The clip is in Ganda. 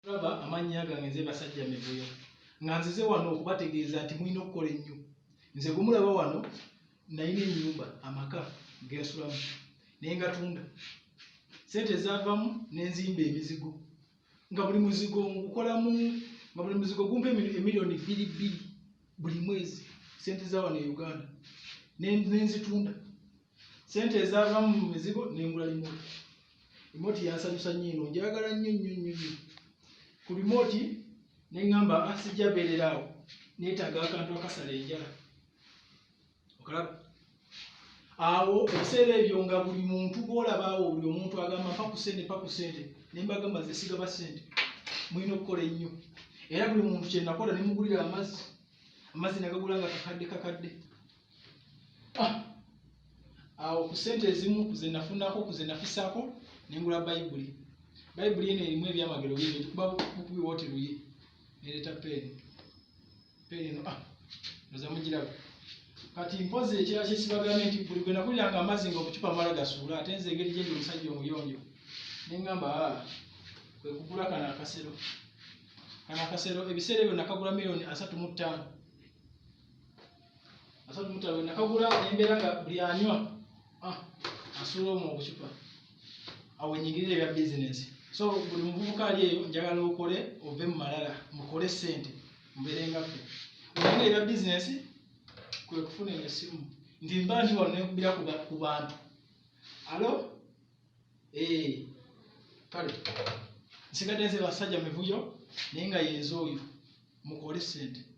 Laba amannya gange nze Basajja Mivuyo nga nzize wano okubategeeza nti mulina okukola ennyo. Nze gwe mulaba wano nalina ennyumba amaka ge nsulamu naye ngatunda. Ssente ezaavamu ne nzimba emizigo nga buli muzigo ngukolamu nga buli muzigo gumpa emiliyoni bbiri bbiri buli mwezi ssente za wano e Uganda ne nzitunda sente ezavamu mu mizigo nengula limoti limoti yansanyusa nnyo eno njagala nnyo nnyo nnyo nnyo ku limoti ne ŋŋamba ah, sijja beerera awo neetaaga akantu akasala enjala okalaba awo ebiseera ebyo nga buli muntu gwolaba awo buli omuntu agamba mpa ku sente mpa ku sente ne mbagamba ze sigaba sente mulina okukola ennyo era buli muntu kyenakola ne mugulira amazzi amazzi nagagula nga kakadde kakadde ah! awo ku sente ezimu kuze nafunako kuze nafisako nengula bayibuli bayibuli eno erimu ebyamagero bingi tukuba bukubi woti luyi nereeta peeni peeni eno ah! oza mugiraba kati mpozi ekirala kyesibagane nti buli gwe nakuliranga amazzi nga obucupa mala gasuula ate nze engeri gyendi omusajja omuyonjo nengamba ah, kwe kugula kano akasero kano akasero ebiseera ebyo nakagula miliyoni asatu mu ttaano asatu mutalo nakagula embeera nga buli anywa ah, asuula omu obucupa awo enyingirira ebya bizinesi so buli muvubuka ali eyo njagala okole ove mu malala mukole sente mbeere nga ffe olinga ebya bizinesi kwe kufuna eyo essimu nti mba nti wano nekubira ku bantu alo eh, kale nsigadde nze basajja mivuyo naye nga yenze oyo mukole sente